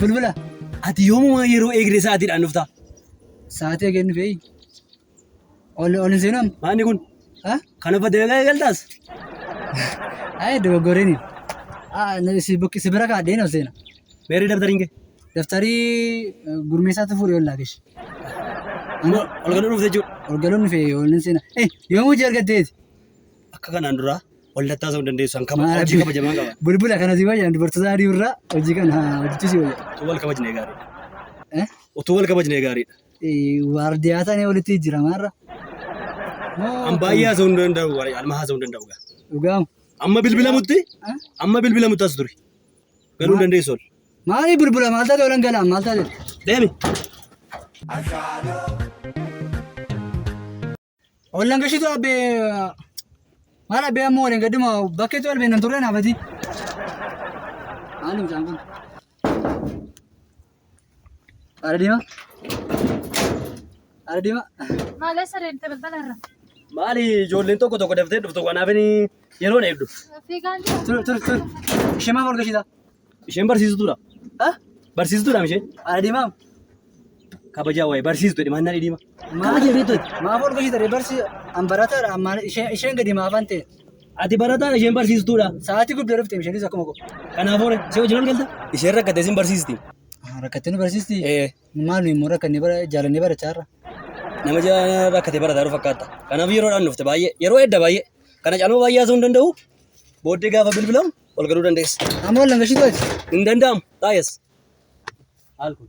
Bulbula, ati yoomuma yeroo eegdee sa'aatiidhaan dhuftaa? Sa'aatii eegeen dhufee? Ol ol hin seenan. Maanni kun? Ha? Kana badeegaa eegaltaas? Ayi dogoggoreen. Ah si bukki si bira kaadheen ol seena. Meerri dabtariin kee? Daftarii eh, gurmeessaatu fuudhee ol laagesh. Ammoo ol galuu dhufte jechuudha. Ol galuun fee ol hin seena. Eh yoom hojii argatteeti? Akka kanaan duraa wal tattaasuu hin dandeessu. An kaba hojii kabajamaa qaba. Bulbula kana si wayyan dubartoota adii irraa hojii kana hojjechuu si wayya. Utuu wal kabajnee gaariidha. Eh? Utuu wal kabajnee gaariidha. Waardiyaa taanee walitti jijjiiramaa irra. An baay'ee haasa'uu hin danda'u. Alma haasa'uu hin danda'u. Dhugaam. Amma bilbilamutti amma bilbilamutti as turi. Galuu hin dandeessu ol. Maali bilbila maal taate olan galaan maal taate? Deemi. Ashalo. Ollan gashitu abbe maal abbe ammoo waliin gadduma bakkeetu albee nan turre naafati. Maalum isaan kun. Ara diima. Ara diima. Maalee sareente balbala irra. Maali ijoolleen tokko tokko daftee dhuftu kanaaf inni yeroon eegdu. Fiigaan jira. Tur tur tur. Ishee maaf ol gashitaa? Isheen barsiistuudha. Ah, Barsiistuudha isheen. ana diimaa. Kabajaa waa'ee barsiistu jedhe maannaa dhidhiima. Kabaja beektu ati. Maaf ol gochitare barsi an barataadha ammaan isheen isheen gadi maaf an ta'e. Ati barataa isheen barsiistuudha. Sa'aatii guddaa dhufte isheenis akkuma koo. Kanaafuu si hojii ol galta. Isheen rakkattee sin barsiisti. Rakkattee nu barsiisti. Eh, Maal nuyi immoo rakkannee bara jaalannee barachaa irra. Nama ja- rakkatee barataa jiru fakkaata. Kanaaf yeroodhaan dhufte baay'ee yeroo edda baay'ee. Kana caaluma baay'ee haasa'uu hin danda'u. Booddee gaafa bilbilamu Ol galuu dandeessa. Amma wal langashiitu ati. Hin danda'amu. Taayas. Haal kun.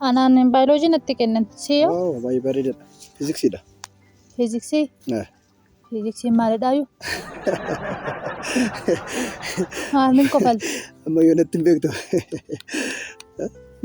Anaan baayoloojii natti kennan. Siyo Waaw baay'ee bareedaadha. Fiiziksiidha. fiiziksii Eh. fiiziksiin maalidhaayu? Maaliin kofalti? Amma yoo natti hin beektu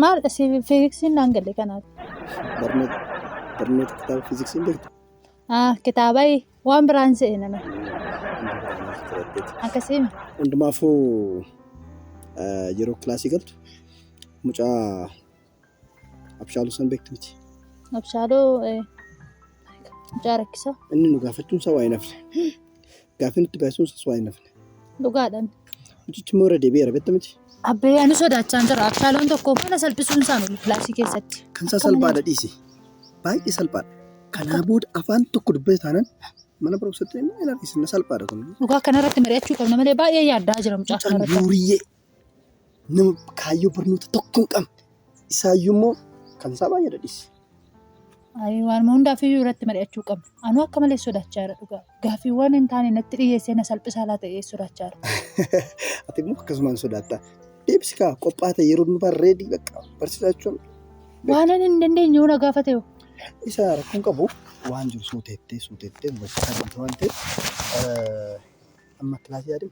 Maalidha si fiiziksiin naan galle kanaaf? barnoota barnoota kitaaba fiiziksii hin beektu. Ah, kitaabai Waan biraa hin se'e nama. Akkasii mi? Hundumaafuu eh, yeroo kilaasii galtu mucaa abshaaluu san beektu miti. Abshaaloo eh, mucaa rakkisaa. Inni nu gaafachuun isaa waa hin hafne. Gaaffii nutti baay'isuun isaas waa hin hafne. Dhugaadhaan. Mucichi immoo irra deebi'eera beekta miti. Abbee ani sodaachaan jira. Abshaaloon tokko mana salphisuun isaan ol kilaasii keessatti. Kan isaa salphaadha dhiisi. Baay'ee salphaadha. Kanaa booda afaan tokko dubbate taanaan mana barumsatti hin argisiisna salphaadha kun. Dhugaa kanarratti mari'achuu qabna malee baay'ee yaaddaa jira mucaa Mucaan kanarratti. duuriyyee nama kaayyoo barnoota tokko hin qabne isaayyuu immoo kan isaa baay'ee dadhiisa. Ayi, Waanuma hundaaf iyyuu irratti mari'achuu qabna. Anuu akka malee sodaachaa jira dhugaa. Gaaffiiwwan hin taane natti dhiyeessee na salphisaa laa ta'ee sodaachaa jira. Ati immoo akkasumaan sodaatta. Deebisi kaa qophaa ta'e yeroo nufaa reedii bakka barsiisaa jechuun Waan ani hin dandeenye yoo na gaafate hoo? isa rakkoon qabu waan jiru suuteettee suuteettee barsiisaa jirti waan ta'eef eh, amma kilaasii yaadin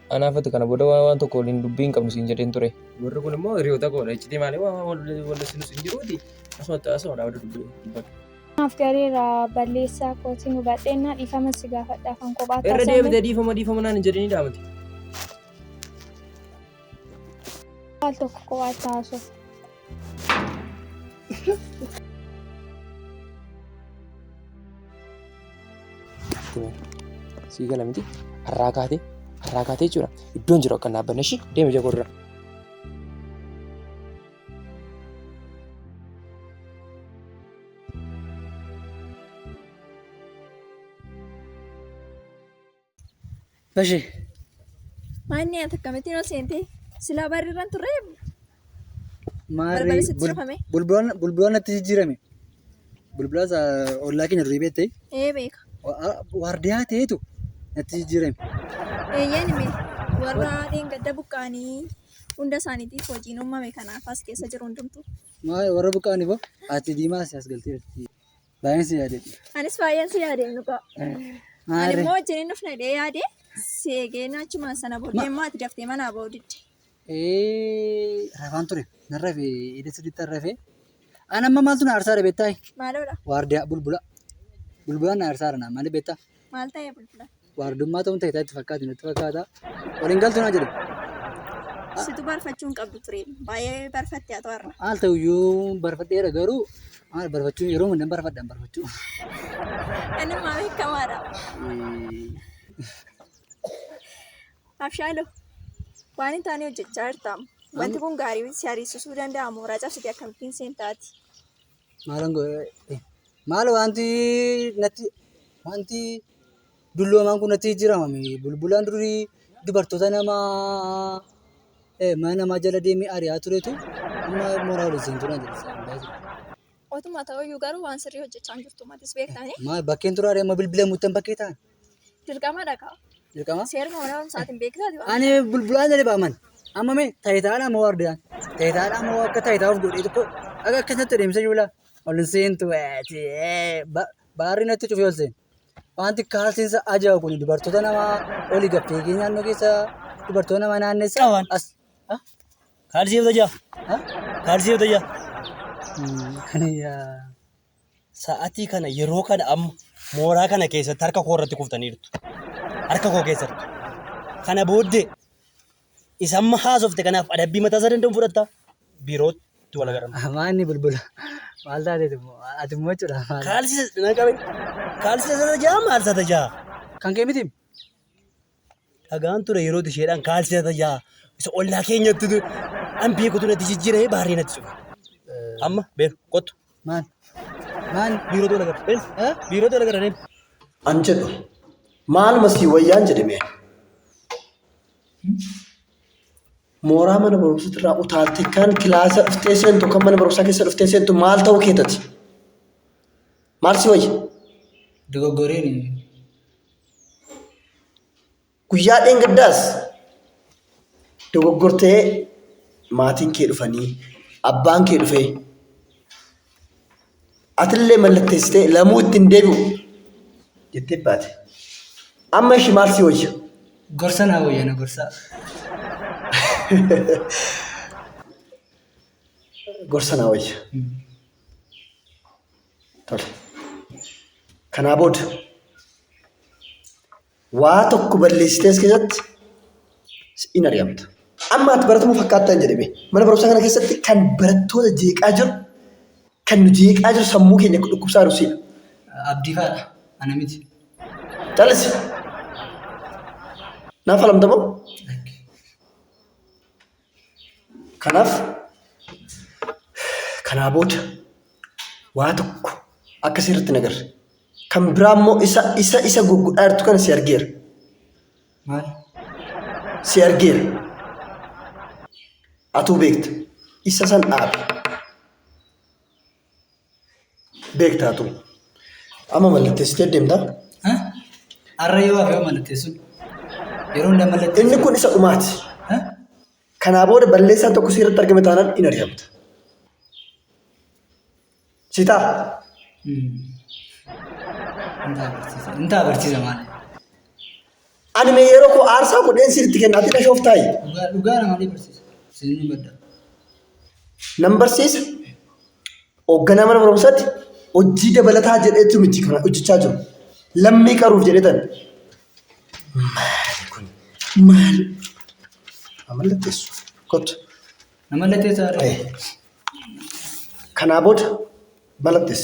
Anaaf ati kana booda waan waan tokko waliin dubbii hin qabnu siin jedheen ture. Warri kun immoo hiriyoota koodha. Iccitii maali waan waan wal- wal isin isin jiruuti. Asuma ta'e asuma dhaabatu dubbii dubbatu. Maaf gareera balleessaa kootiin hubadheennaa dhiifama si gaafadha kan kophaa Irra taasifamu. deebitee dhiifama dhiifama naan hin jedhini dhaamati. Al tokko kophaa taasisuuf. Sii gala miti har'aa kaatee har'aa kaatee jechuudha iddoon jiru akka hin dhaabbanne ishii deema ija godhura. Bashe. Maanni ati akkamittiin ol seente? Silaa barri irraan turre Maarree Balbala sitti bul- cufame. bulbulaan bulbulaan natti jijjiirame. Bulbulaa isaa ollaa keenya durii beektee ee beeka. waardiyaa ta'eetu natti jijjiirame. Eeyyeen hime warra dheengadda buqqaanii hunda isaaniitiif hojiin uumame kanaaf as keessa jiru hundumtu. Maa warra buqqaaniif hoo ati diimaa asi as galtee jirti. Baay'een si yaade. Anis baay'een si yaade nuqa. Ani Maarree. immoo wajjin hin dhufne dhee yaade si eegee naachumaan sana booddee immoo ati daftee manaa ba'uu didde. Ee, rafaan ture. Nan rafe, edda sirriitti rafe. An amma maaltu na aarsaadha beektaa? Maaloodha? Waardiyaa bulbula. Bulbulaan na aarsaadha naan malee beektaa? Maal ta'ee bulbula? waardummaa ta'uun ta'e itti fakkaate natti fakkaata. Waliin galtu naa jedhu. Situ barfachuu hin qabdu ture. Baay'ee barfatte haa ta'arra. Haal ta'uyyuu barfadheera garuu maal barfachuun yeroo hundan barfadhan barfachuu. Kanuma beekamaadha. Abshaaloo waan hin taane hojjechaa jirtaam. Wanti kun gaarii si ariisisuu danda'a mooraa cabsitee akkamittiin seen taati. Maalan godhe maal wanti natti wanti dulloomaan kun natti jijjiiramame bulbulaan durii dubartoota nama eh, mana namaa jala deemee ari'aa turetu amma mooraa waliin seentuu na jedhe. Otuma ta'uyyuu garuu waan sirrii hojjechaa hin jirtu matis beektanii. Maal bakkeen turaaree amma bilbila muttan bakkee ta'an. Dirqamadha kaa. Dirqama. Seeruma mana barumsaatiin beektaati waan. Ani bulbulaan jedhe baaman. Amma mee tayitaadha moo wardiyaan? Tayitaadha moo akka tayitaa of godhee tokko akka akkasatti deemsa yuula. Ol hin seentu waati. Baarri natti cufee ol seenu. Wanti kaalsiinsa ajaa'iba kun dubartoota namaa oli gaffee kee naannoo keessa dubartoota namaa naannessa. Qaban. As. Ah? Kaalsii yoo tajaa. Ah? Kaalsii yoo tajaa. Hmm, Kan yaa. sa'atii kana yeroo kana amma mooraa kana keessatti harka koo irratti kuftaniirtu. Harka koo keessatti. Kana booddee isa amma haasofte kanaaf adabbii mataa isaa danda'u fudhatta biirootti wal agarra. Amaa inni bulbula. Maal taateeti immoo? Ati immoo jechuudha. maal- Kaalsisa na qabe. Kaalsisa isa tajaa maal isa tajaa? Kan kee miti. Dhagaan ture yeroo isheedhaan kaalsii tata yaa isa ollaa keenyatti ture. An beekutu natti jijjiiree baarree natti cufa. Amma beeku kottu. Maal? Maal? Biiroo tola gara. Beeku. Eh? Biiroo tola gara deemu. An jedhu maal masii wayyaan jedhame. Mooraa mana barumsaa irraa utaaltee kan kilaasa dhuftee seentu kan mana barumsaa keessa dhuftee seentu maal ta'uu keetati? Maal si wayya? Dogoggoreen Guyyaa dheengaddaas dogoggortee maatiin kee dhufanii abbaan kee dhufee atillee mallatteessitee lamuu itti hin deebi'u jettee baate. Amma ishii maal si wayya? Gorsa naa wayya na gorsaa. Gorsa naa wayya. Tole. Kanaa booda waa tokko balleessitees keessatti in ari'amta. Amma ati baratamu fakkaattaa hin jedhame. Mana barumsaa kana keessatti kan barattoota jeeqaa jiru, kan nu jeeqaa jiru sammuu keenya dhukkubsaa jiru siidha. Abdii faadha. Ana miti. Calisi. Naaf alamta moo? Kanaaf kanaa booda waa tokko akka si irratti hin agarre. Kan biraa immoo isa isa isa gurgudhaa jirtu kana si argeera. Maal? Si argeera. Atuu beekta. Isa san dhaabi. beektaa ture. Amma mallatteessitee deemta. Har'a yoo hafe yoo mallatteessuun yeroo hundaa mallatteessuun. Inni kun isa dhumaati. Kanaa booda balleessaan tokko seeratti argame taanaan in ari'amta. Sitaa? Intaa barsiisa maal? Ani mee yeroo koo aarsaa godheen sitti kenna ati na shooftaayi. Dhugaa dhugaa nama ni barsiisa. Isin ni madda. Nan barsiisa. Hoogganaa mana barumsaatti hojii dabalataa jedheetu miti kana hojjechaa jiru. Lammii qaruuf jedhetan. Maali kun? Maali? Amalla teessu. Kottu. Nama lattee saaree. Ayee. Kanaa booda malattis.